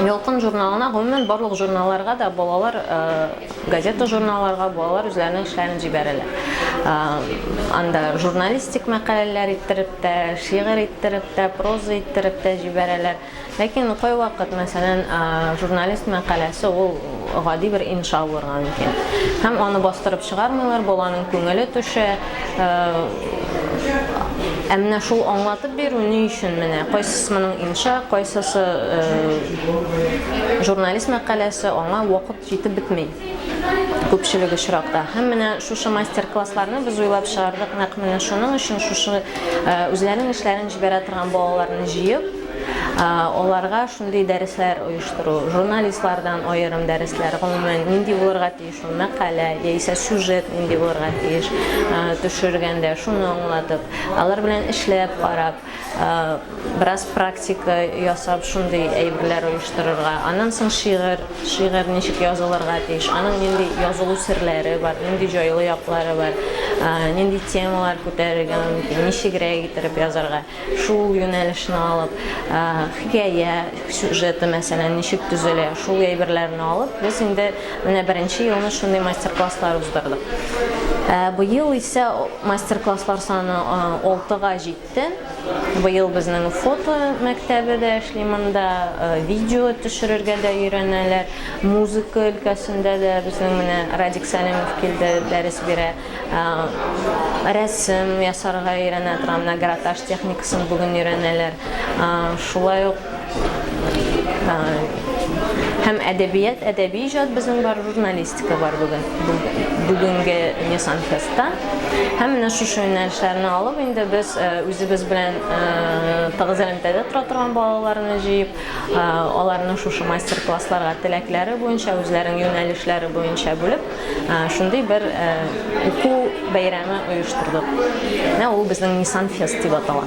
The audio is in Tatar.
Ялкын журналына, гомумән, барлык журналларга да балалар газета-журналларга балалар үзләренең эшләрен җибәрәләр. Анда журналистик мәкаләләр иттереп тә, шигырь иттереп тә, проза иттереп тә җибәрәләр. Ләкин кайвакыт, мәсәлән, журналист мәкаләсе ул гади бер инша булырга мөмкин. Һәм аны бастырып чыгармыйлар, баланың күңеле төшә. Ә менә шул аңлатып бирү ни өчен менә кайсысы моның инша, кайсысы журналист мәкаләсе аңа вакыт җитеп бетми күпчелек очракта. Һәм менә шушы мастер-классларны без уйлап чыгардык. Нәкъ менә шуның өчен шушы үзләренең эшләрен җибәрә торган балаларны җыеп, аларга шундый дәресләр оештыру, журналистлардан аерым дәресләр, гомумән, нинди булырга тиеш мәкалә яисә сюжет нинди булырга тиеш, төшергәндә, шуны аңлатып, алар белән эшләп карап, бераз практика ясап, шундый әйберләр оештырырга. Аннан соң шигырь, шигырь ничек язылырга тиеш, аның нинди язылу серләре бар, нинди җайлы яклары бар, нинди темалар күтәрергә мөмкин, ничегрәк иттереп язарга. Шул юнәлешне алып, хикәя сюжеты, мәсәлән, ничек төзелә, шул әйберләрне алып, без инде менә беренче елны шундый мастер-класслар уздырдык. Быел исә мастер-класслар саны алтыга җитте. Быел безнең фото мәктәбе дә эшли, монда видео төшерергә дә өйрәнәләр. Музыка өлкәсендә дә безнең менә Радик Сәлимов килде, дәрес бирә. Рәсем ясарга өйрәнә торган менә гратаж техникасын бүген өйрәнәләр. Шулай ук һәм әдәбият, әдәби иҗат безнең бар, журналистика бар бүген. Бүгенге Nissan Fest-та. Һәм менә шушы юнәлешләрне алып, инде без үзебез белән тыгыз элемтәдә тора торган балаларны җыеп, аларны шушы мастер-классларга теләкләре буенча, үзләренең юнәлешләре буенча бүлеп, Шундый бер уку бәйрәме оештырдык. Менә ул безнең Нисан фест дип атала.